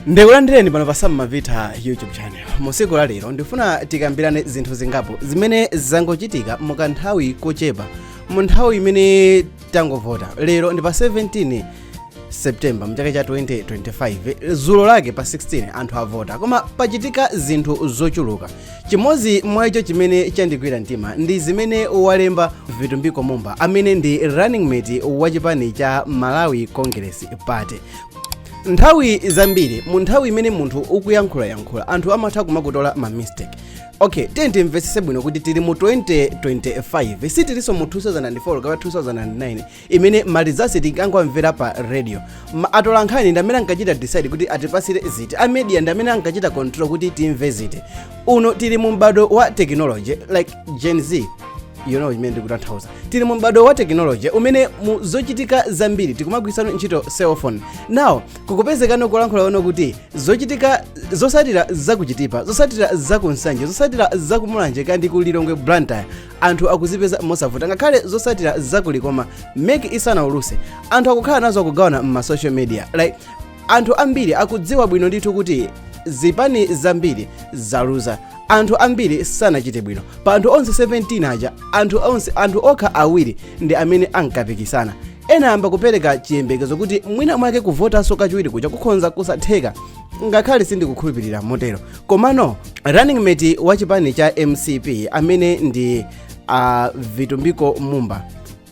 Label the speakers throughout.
Speaker 1: ndikulandireni pano pa sam mavita youtube channel musiku la lero ndifuna tikambirane zinthu zingapo zimene zangochitika mukanthawi kochepa mu nthawi imene tangovota lero ndi pa 17 september mchaka cha 2025 zulo lake pa 16 anthu avota koma pachitika zinthu zochuluka Chimodzi mwa icho chimene chandigwira mtima ndi zimene walemba Vitumbiko Mumba amene ndi running mate wa chipani cha Malawi Congress Party. Nthawi zambiri mu nthawi imene munthu ukuyankhulayankhula anthu amatha kumakutola ma mistake. Okay, tiyeni timvetsetse bwino kuti tili mu 2025 sitilinso mu 2004 kapena 2009 imene malizasi tinkangomvera pa radio Atolankhani ndi amene ankachita decide kuti atipasire ziti a media ndi amene ankachita control kuti timve ziti uno tili mu m'bado wa technology like gen z you know zimene ndikutanthauza tili mu m'bado wa technology umene mu zochitika zambiri tikumagwirisa ntchito cell phone now kukupezekano kulankhula kuno kuti zochitika zosatira zakuchitipa zosatira zakunsanje zosatira zakumulanje kaya ndi ku lilongwe blantyre anthu akuzipeza mosavuta ngakhale zosatira zakulikoma MEC isanauluse anthu akukhala nazo akugawana mma social media like anthu ambiri akudziwa bwino ndithu kuti zipani zambiri zaluza anthu ambiri sanachite bwino pa anthu onse 17 aja anthu onse anthu okha awiri ndi amene ankapikisana ena ayamba kupereka chiyembekezo kuti mwina mwake kuvotanso kachiwiri kuja kukhonza kusatheka ngakhale sindikukhulupirira motero komano running mate wa chipani cha mcp amene ndi uh, vitumbiko mumba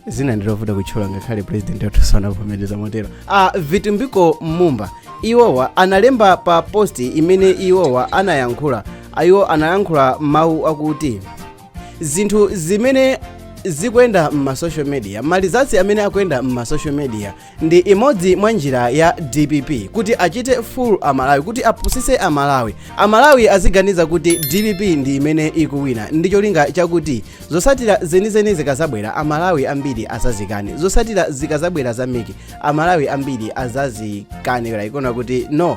Speaker 1: zina ndilovuta kutchula ngakhale president wathu anavomereza motero uh, vitumbiko mumba iwowa analemba pa posti imene iwowa anayankhula iwo anayankhula mawu akuti zinthu zimene zikuyenda m'masocial media malizasi amene akuyenda m'masocial media Ndi imodzi mwa njira ya dpp kuti achite fool a Malawi kuti apusise a Malawi. A Malawi aziganiza kuti dpp ndi imene ikuwina ndi cholinga chakuti zosatira zenizeni zikazabwera a Malawi ambiri azazikane. Zosatira zikazabwera za Mec a Malawi ambiri azazikane like kunena kuti no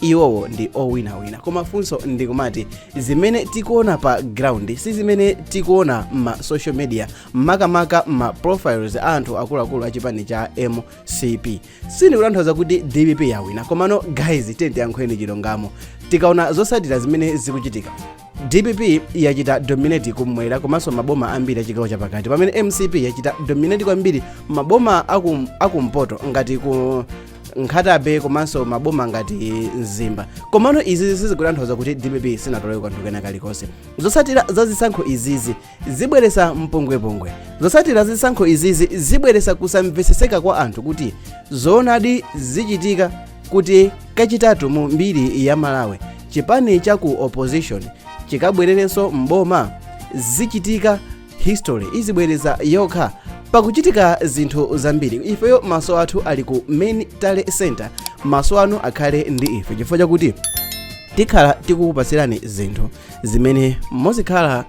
Speaker 1: iwowo ndi owinawina koma funso ndikumati zimene tikuona pa ground si zimene tikuona ma social media makamaka ma profiles a anthu akuluakulu a chipani cha mcp sindikutanthauza kuti dpp yawina komano guys tiyeni tiyankhuleni chilungamo tikaona zosatira zimene zikuchitika dpp yachita dominate kumwera komanso maboma ambiri achigawo chapakati pamene mcp yachita dominate kwambiri maboma akum- akumpoto ngati ku nkhata bay komanso maboma ngati mzimba komano izizi sizikutanthauza kuti dpp sinatoleko kanthu kena kalikonse zosatira za zisankho izizi zibweresa mpungwepungwe zotsatira zisankho izizi zibweresa kusamveseseka kwa anthu kuti zoonadi zichitika kuti kachitatu mu mbiri ya malawi chipani cha ku opposition chikabwererenso m'boma zichitika history izibwereza yokha pakuchitika zinthu zambiri ifeyo maso athu ali ku main tally center maso anu akhale ndi ife chifukwa chakuti tikhala tikukupatsirani zinthu zimene muzikhala